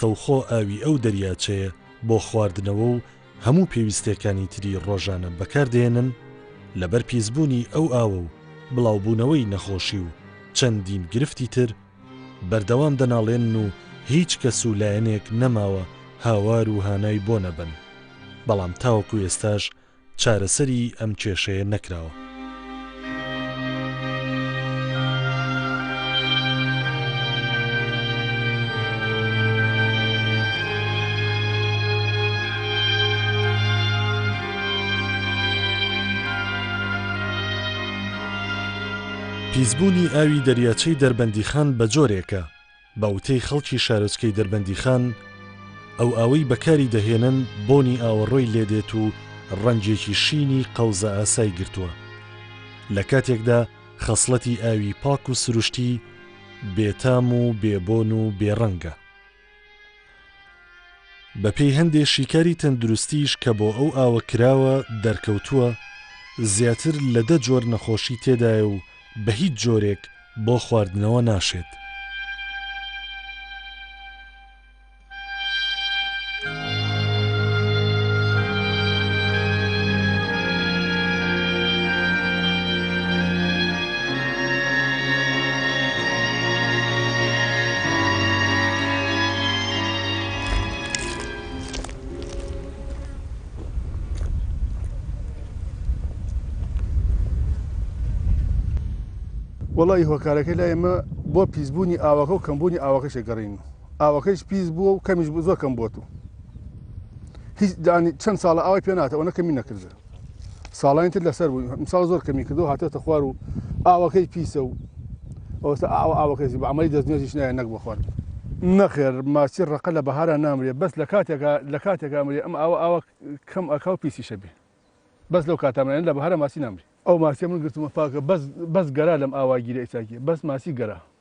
ڕاستەوخۆ ئاوی ئەو دەریاچەیە بۆ خواردنەوە و هەموو پێویستیەکانی تری ڕۆژانە بەکار دەهێنن، لەبەر پیسبوونی ئەو ئاوە و بڵاوبوونەوەی نەخۆشی و چەندین گرفتی تر، بەردەوام دەناڵێنن و هیچ کەس و لایەنێک نەماوە هاوار و هانای بۆ نەبەن، بەڵام تاوەکو ئێستاش چارەسەری ئەم کێشەیە نەکراوە. پیسبوونی ئاوی دەریاچەی دەربەندیخان بەجۆرێکە، بە وتەی خەڵکی شارۆچکەی دەربەندیخان، ئەو ئاوەی بەکاری دەهێنن بۆنی ئاوەڕۆی لێدێت و ڕەنگێکی شینی قەوزەئاسای گرتووە، لە کاتێکدا خەسڵەتی ئاوی پاک و سروشتی بێتام و بێبۆن و بێڕەنگە. بەپێی هەندێ شیکاری تەندروستیش کە بۆ ئەو ئاوە کراوە دەرکەوتووە زیاتر لە دە جۆر نەخۆشی تێدایە و بە هیچ جۆرێک بۆ خواردنەوە ناشێت. وەڵایی هۆکارەکەی لای ئێمە بۆ پیسبوونی ئاوەکە و کەمبوونی ئاوەکەشە گەڕین و ئاوەکەیش پیس بووە و کەمیش بوو زۆر کەم بۆت و هیچ دانی چەند ساڵە ئاوای پێ ناتەوە نەکەمی نەکردە ساڵانی تر لەسەر بوو ئەمساڵ زۆر کەمی کردو هاتۆتە خوار و ئاوەکەی پیسە و ئەوەستا ئاو ئاوەکەسی بە عەمەلی دەستنوێژیش نایە نەک بۆ خواردن. نەخێر ماچی ڕەقە لە بەهارا نامرێ بەس لە کاتێکا لە کاتێکا ئەمرێ ئەم ئاوە ئاوە کەم ئەکا و پیسیش ئەبێ بەس لەو کاتە ئەمرێ لە بەهارا ماچی نامرێ. ئەو ماچیە من گرتمە پاکە بەس بەس گەرا لەم ئاوا گیرە ئیساکیە بەس ماچی گەرا.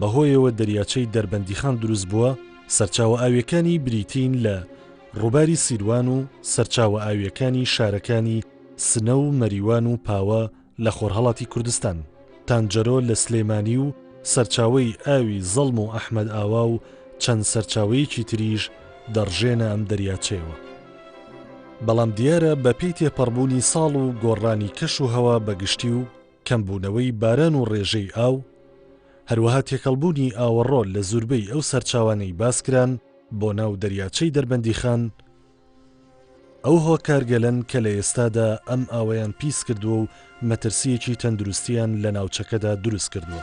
بەهۆیەوە دەریاچەی دەربەندیخان دروستبووە، سەرچاوە ئاوییەکانی بریتین لە ڕووباری سیروان و سەرچاوە ئاوییەکانی شارەکانی سنە و مەریوان و پاوە لە خۆرهەڵاتی کوردستان، تانجەرۆ لە سلێمانی و سەرچاوەی ئاوی زەڵم و ئەحمەد ئاوا و چەند سەرچاوەیەکی تریش دەڕژێنە ئەم دەریاچەیەوە. بەڵام دیارە بەپێی تێپەڕبوونی ساڵ و گۆڕانی کەش و هەوا بەگشتی و، کەمبوونەوەی باران و ڕێژەی ئاو، هەروەها تێکەڵبوونی ئاوەڕۆ لە زوربەی ئەو سەرچاوانەی باسکران بۆ ناو دەریاچەی دەربەندیخان، ئەو هۆکارگەلەن کە لە ئێستادا ئەم ئاوەیان پیسکردووە و مەترسییەکی تەندروستییان لە ناوچەکەدا دروستکردووە.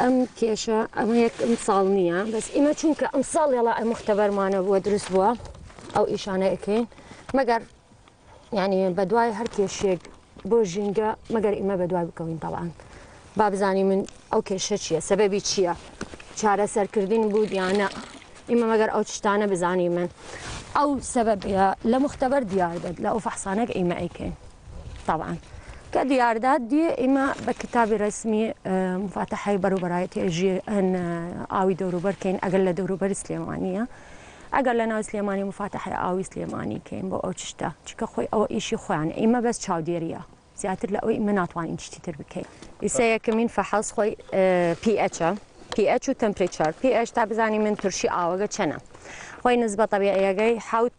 ئەم کێشە ئەمە یەک ئەمساڵ نییە بەس ئیمە چونکە ئەمساڵ لێڵا ئە مختبەرمانە بووە دروست بووە ئەو ئیشانە ئەکەین مەگەر یعنی بە دوای هەر کێشێک بۆ ژینگە مەگەر ئیمە بە دوای بکەوین تەڵان با بزانانی من ئەو کێشە چییە سەبەبی چییە چارە سەرکردین بوو دیانە ئیمە مەگەر ئەو شتانە بزانی من ئەو سەبەبە لە مختبەر دیار بێت لە ئەو فەحسانەک ئیمە ئەیکەین تەبعەن کە دیاردە دیێ ئیمە بە کتابی ڕسمی مفاتەحی بەروبەرایەتی ژێ ئەن ئاوی دەوروبەر کەین ئەگەر لە دەوروبەری سلێمانە ئەگەر لە ناو سلێمانی مفاتەحی ئاوی سلێمانی کەین بۆ ئەو چشتە چکە خۆی ئەوە ئیشی خۆیان ئیمە بەس چاودێریە زیاتر لە ئەوی ئیمە ناتوانین چشتی تر بکەین ئیسە یەکەمین فەحەز خۆی پیئچە پیئچ و تەمپریچار پیئچ تا بزانین من ترشی ئاوەگە چەنە خۆی نزبە طبیعیەکەی حوت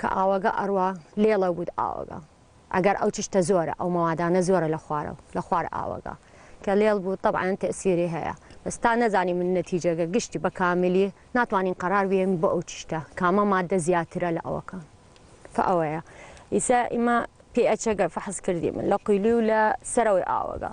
کە ئاوەگە ئەڕوا لێڵە ووت ئاوەگە ئەگەر ئەو چشتە زۆرە ئەو مەوادانە زۆرە لە خوارەو لە خوار ئاوەگە کە لێڵ بوو تەبعەن تەئسیری هەیە بەس تا نەزانیمن نەتیجەگە گشتی بە کاملی ناتوانین قەرار بێین بۆ ئەو چشتە کامە ماددە زیاترە لە ئەوەکە کە ئەوەیە ئیسە ئیمە پی ئەچەگە فەحس کردیمن لە قویلی و لە سەرەوەی ئاوەگە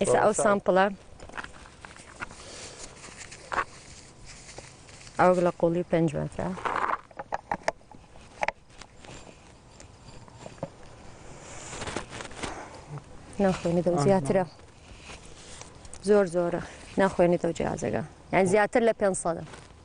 ئێستا ئەو سامپڵە ئەو لە قوڵی پێنج مەترە ناخوێنی دە زیاترە زۆر زۆرە ناخوێنی دە جیازەکە یان زیاتر لە پێ سەدە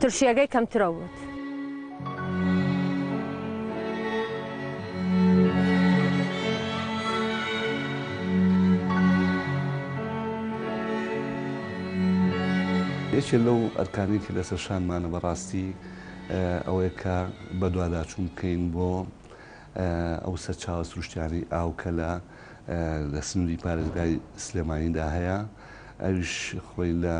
ترشیەگەی کەمترە ووت. یەکێ لەو ئەرکانەی کە لەسەر شانمانە بەڕاستی ئەوەیە کە بەدواداچوون بکەین بۆ ئەو سەرچاوە سروشتیانەی ئاو کە لە لە سنووری پارێزگای سلێمانیدا هەیە ئەویش خۆی لە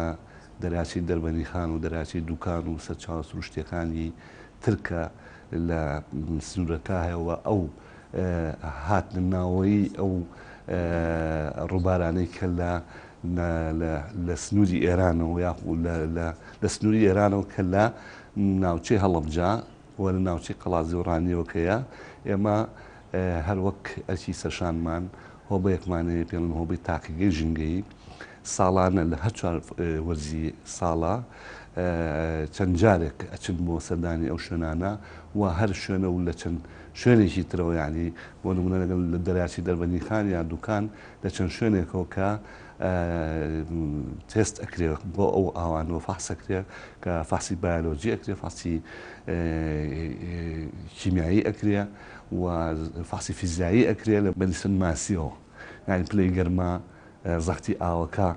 دەراچەی دەربەندیخان و دەراچەی دوکان و سەرچاوە سروشتیەکانی تر کە لە سنورەکە هەیە و ئەو هاتنە ناوەوەی ئەو ڕوبارانەی کە لە لە سنوری ئێرانەوە یاخو لە سنوری ئێرانەوە کە لە ناوچەی هەڵەبجە و لە ناوچەی قەڵادزێ و ڕانیەوە کەیە ئێمە هەروەک ئەرکی سەرشانمان هۆبەیەکمانەیە پێڵن هۆبەی تاقیگەی ژینگەیی ساڵانە لە هەر چوار وەرزی ساڵا چەند جارێک ئەچن بۆ سەردانی ئەو شوێنانە و هەر شوێنە و لە چەند شوێنێکی ترەوە یانی بۆ نمونە لەگەڵ لە دەرچی دەربەنی خان یا دوکان لە چەند شوێنێکەوە کە تێست ئەکرێ بۆ ئەو ئاوانەوە فەحسەکرێ کە فەحسی بایۆلۆجی ئەکرێ فەحسی کیمیایی ئەکرێ و فەحسی فیزیایی ئەکرێ لە بەنیسن ماسیەوە یعنی پلەی گەرما زەختی ئاوەکە،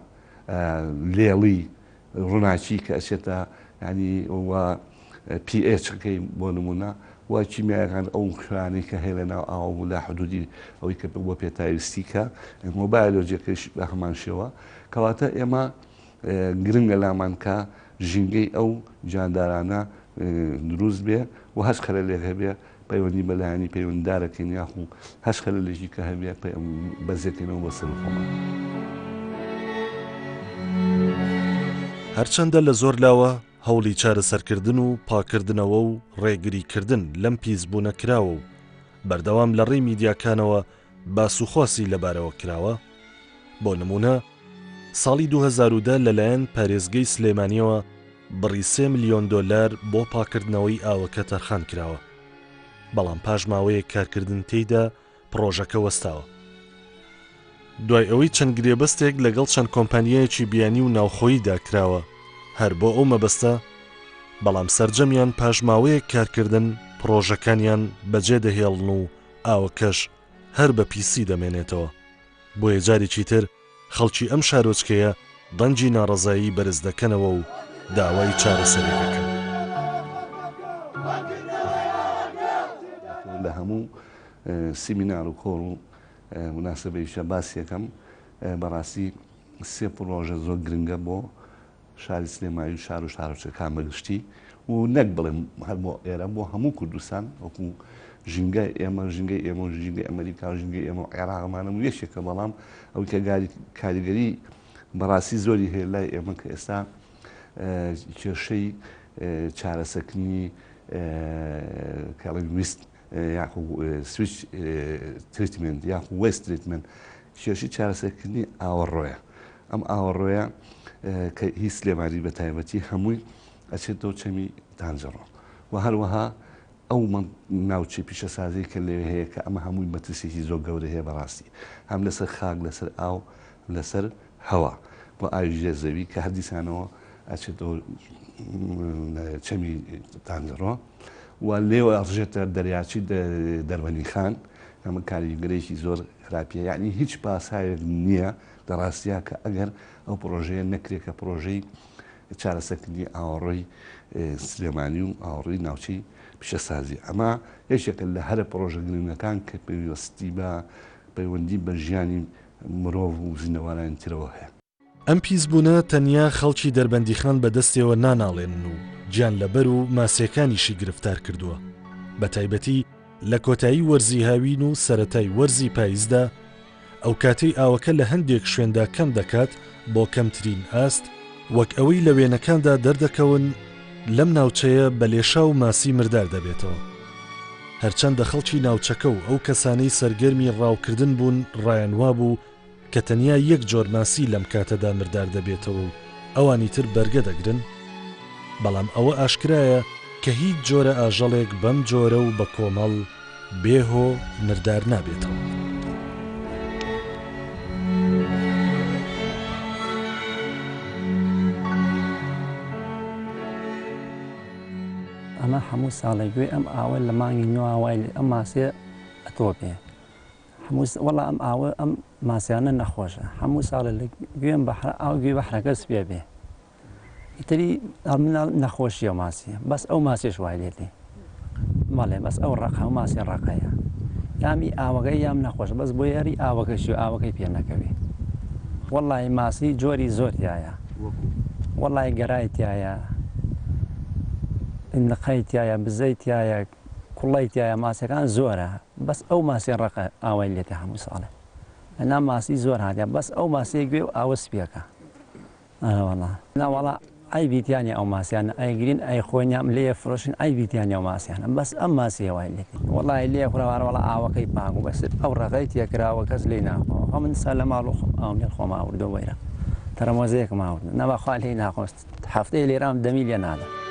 لێڵی ڕووناکی کە ئەچێتە یانی و پی ئێچ ەکەی بۆ نموونە و کیمیایەکان ئەو خوێیانەی کە هەیە لە ناو ئاو و لە حدوودی ئەوەی کە بۆ پێتاویستی کە مۆبایلۆجیەکەیش بە هەمان شێوە کەواتە ئێمە گرنگە لامان کە ژینگەی ئەو جاندارانە دروست بێ و هەچ خەلەلێک هەبێ پەیوەندی بە لایەنی پەیوەنددارەکەین یاخو هەچ خەلەلێکی کە هەبێ بەزێکەینەوە بۆ سەر خۆمان. هەرچەندە لە زۆر لاوە هەوڵی چارەسەرکردن و پاککردنەوە و ڕێگریکردن لەم پیسبوونە کراوە و بەردەوام لە ڕێی میدیاکانەوە باس و خواسی لەبارەوە کراوە، بۆ نموونە ساڵی دوو هەزار و دە لەلایەن پارێزگەی سلێمانییەوە بڕی سێ ملیۆن دۆلار بۆ پاککردنەوەی ئاوەکە تەرخان کراوە، بەڵام پاش ماوەیەک کارکردن تێیدا پڕۆژەکە وەستاوە. دوای ئەوەی چەند گرێبەستێک لەگەڵ چەند کۆمپانیایەکی بیانی و ناوخۆییدا کراوە هەر بۆ ئەو مەبەستە، بەڵام سەرجەمیان پاش ماوەیەک کارکردن پڕۆژەکانیان بەجێدەهێڵن و ئاوەکەش هەر بە پیسی دەمێنێتەوە، بۆیە جارێکی تر خەڵکی ئەم شارۆچکەیە دەنگی ناڕەزایی بەرز دەکەنەوە و داوای چارەسەری دەکەن. لە هەموو سیمینار و کۆڕ و موناسەبەیشدا باسی ئەکەم، بەڕاستی سێ پڕۆژە زۆر گرنگە بۆ شاری سلێمانی و شار و شارۆچکەکان بە گشتی و نەک بڵێم هەر بۆ ئێرە بۆ هەموو کوردستان وەکو ژینگای ئێمە ژینگەی ئێمە و ژینگەی ئەمریکا و ژینگەی ئێمە و عێراقمانە و یەکێکە بەڵام ئەو کە کاریگەری بەڕاستی زۆری هەیە لای ئێمە کە ئێستا کێشەی چارەسەکنی کەڵنگویست یاخو سویچ تریتمێنت یاخو وەیست تریتمێنت کێشی چارەسەرکردنی ئاوەڕۆیە ئەم ئاوەڕۆیە کە هی سلێمانی بە تایبەتی هەمووی ئەچێت دەو چەمی تانجەڕۆ و هەروەها ئەو ناوچەی پیشەسازی کە لێ هەیە کە ئەمە هەمووی مەترسێکی زۆر گەورە هەیە بەڕاستی هەم لەسەر خاک لەسەر ئاو لەسەر هەوا و ئاوی ژێر زەوی کە هەر دیسانەوە ئەچێتەوە چەمی تانگەڕۆ و لێوە ئەڕژێتە دەریاچی دەربەنی خان ئەمە کاریگەرێکی زۆر خراپیە یعنی هیچ پاساوێک نییە لە ڕاستیا کە ئەگەر ئەو پرۆژەیە نەکرێت کە پرۆژەی چارەسەکردنی ئاوەڕۆی سلێمانی و ئاوڕی ناوچەی پیشەسازی ئەمە یەکێکە لە هەرە پرۆژە گرنگەکان کە پێویستی بە پەیوەندی بە ژیانی مرۆڤ و زیندەوەرانی ترەوە هەیە. ئەم پیسبوونە تەنیا خەڵکی دەربەندیخان بە دەستێوە ناناڵێنن و گیانلەبەر و ماسییەکانیشی گرفتار کردووە، بە تایبەتی لە کۆتایی وەرزی هاوین و سەرەتای وەرزی پایزدا، ئەوکاتەی ئاوەکە لە هەندێک شوێندا کەم دەکات بۆ کەمترین ئاست، وەک ئەوەی لە وێنەکاندا دەردەکەون، لەم ناوچەیە بە لێشاو و ماسی مردار دەبێتەوە. هەرچەندە خەڵکی ناوچەکە و ئەو کەسانەی سەرگەرمی ڕاوکردن بوون ڕایان وابوو کە تەنیا یەک جۆر ماسی لەم کاتەدا مردار دەبێتەوە و ئەوانی تر بەرگە دەگرن، بەڵام ئەوە ئاشکرایە کە هیچ جۆرە ئاژەڵێک بەم جۆرە و بە کۆمەڵ، بێ هۆ مردار نابێتەوە. ئەمە هەموو ساڵێک گوێ ئەم ئاوە لە مانگی نوێ وای لێ ئەم ماسێ ئەتۆپێ هەموو س- وەڵا ئەم ئاوە ئەم ماسیانە نەخۆشە هەموو ساڵە لە گوێم بەحرە ئاو گوێ بەحرەکە سپێ بێ ئیتری مناڵ نەخۆشیە ماسیە بەس ئەو ماسیش وای لێ دێ مەڵێ بەس ئەو ڕق هەموو ماسی ڕقەیە یامی ئاوەگەی یام نەخۆش بەس بۆ یاری ئاوەکەش و ئاوەکەی پێ نەکەوێ وەڵی ماسی جۆری زۆر تایە وەڵی گەرای تایە نقەی تایە بزەی تایە کوڵی تایە ماسەکان زۆرە بەس ئەو ماسی ڕقە ئاوای لێتە هەموو ساڵێ ئەنا ماسی زۆر هااتە بەس ئەو ماسیە گوێ و ئاوە سپیەکە ئەرەوەڵا نەوەڵا عەیبی تیا نیە ئەو ماسیانە ئەیگرین ئەیخۆینیان لێ ئەفرۆشن عەیبی تیا نیە ئەو ماسیانە بەس ئەم ماسیە وای لێ کرد وەڵای لێ خوراوە ئەرەوەڵا ئاوەکەی پاک بوو بەس ئەو ڕەغەی تێ کراوە کەس لێی ناخۆ خۆ من سا لە ماڵ و خۆم ئاوم لێ خۆم ئاوردوە وەیرە تەرەمۆزێکم ئاوردوە نەبا خوا لێی ناخۆست هەفتەیە لێرام دەمی لێ نادەم.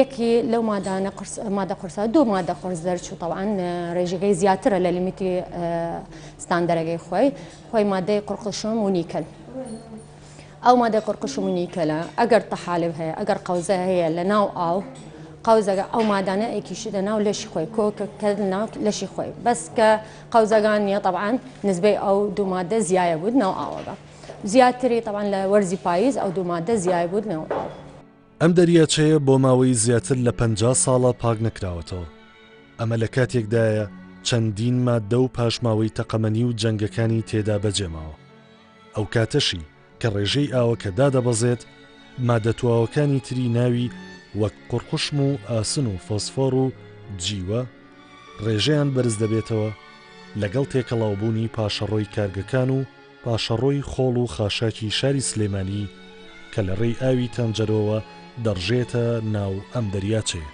یەکی لەو مادانە قرس مادە قرسە دوو مادە قرس دەرچوو طبعاً ڕێژەکەی زیاترە لە لیمیتی ستاندەرەگەی خۆی خۆی مادەی قڕقشم و نیکەل ئەو مادە قڕقشم و نیکەلە ئەگەر تەحالب هەیە ئەگەر قەوزە هەیە لە ناو ئاو قەوزەگە ئەو مادانە ئەیکیشی لە ناو لەشی خۆی کۆکە کە ناو لەشی خۆی بەس کە قەوزەگان نیە طبعاً نزبەی ئەو دوو مادە زیایە بود ناو ئاوەگە زیاتری طبعاً لە وەرزی پاییز ئەو دوو مادە زیای بود ناو ئاو ئەم دەریاچەیە بۆ ماوەی زیاتر لە پەنجا ساڵە پاک نەکراوەتەوە، ئەمە لە کاتێکدایە چەندین ماددە و پاشماوەی تەقەمەنی و جەنگەکانی تێدا بەجێماوە، ئەو کاتەشی کە ڕێژەی ئاوەکە دادەبەزێت، ماددە تواوەکانی تری ناوی وەک قوڕقوشم و ئاسن و فۆسفۆڕ و جیوە ڕێژەیان بەرزدەبێتەوە لەگەڵ تێکەڵاوبوونی پاشەڕۆی کارگەکان و پاشەڕۆی خۆڵ و خاشاکی شاری سلێمانی کە لە ڕێی ئاوی تەنجەرۆوە دەڕژێتە ناو ئەم دەریاچەیە.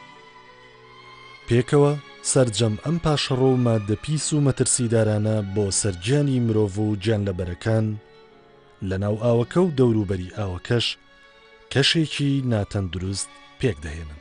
پێکەوە سەرجەم ئەم پاشەڕۆ و ماددە پیس و مەترسیدارانە بۆ سەر گیانی مرۆڤ و گیانلەبەرەکان لە ناو ئاوەکە و دەوروبەری ئاوەکەش کەشێکی ناتەندروست پێکدەهێنن.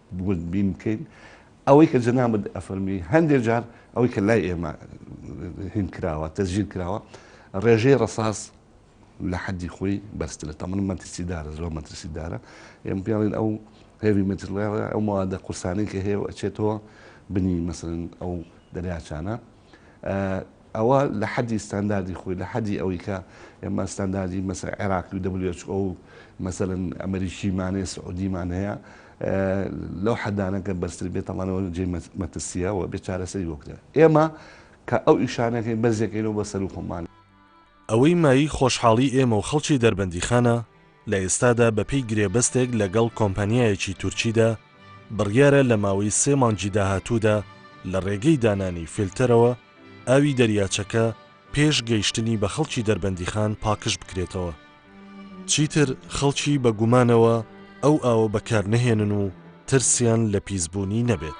وردبین بکەین، ئەوەی کە جەنابت ئەفەرمی هەندێ جار ئەوەی کە لای ئێمە هین کراوە تەسجیل کراوە ڕێژەی ڕەساس لە حەدی خۆی بەرزترە تەمەن مەترسیدارە زۆر مەترسیدارە ئێمە پێڵین ئەو هێوی مەترلێڵە ئەو موادە قورسانەی کە هەیە و ئەچێتەوە بنی مەسەن ئەو دەریاچانە ئەوە لە حەدی ستانداردی خۆی لە حەدی ئەوەی کە ئێمە ستانداردی مەسە عێراقی و WHO و مەسەرن ئەمریکیمانەیە سعودیمان هەیە لەو حەدانەکە بەرزتر بێت تەمانەوە جێ مەترسیە و بێ چارەسەری بۆ بدەن ئێمە کە ئەو ئیشانەکەی بەرزەکەینەوە بە سەر و خۆمان ئەوەی مایەی خۆشحاڵی ئێمە و خەڵکی دەربەندیخانە، لە ئێستادا بەپێی گرێبەستێک لەگەڵ کۆمپانیایەکی تورکیدا، بڕیارە لە ماوەی سێ مانگی داهاتوودا لە ڕێگەی دانانی فیلتەرەوە ئاوی دەریاچەکە پێش گەیشتنی بە خەڵکی دەربەندیخان پاکژبکرێتەوە. چیتر خەڵکی بە گومانەوە ئەو ئاوە بەکارنەهێنن و ترسیان لە پیسبوونی نەبێت.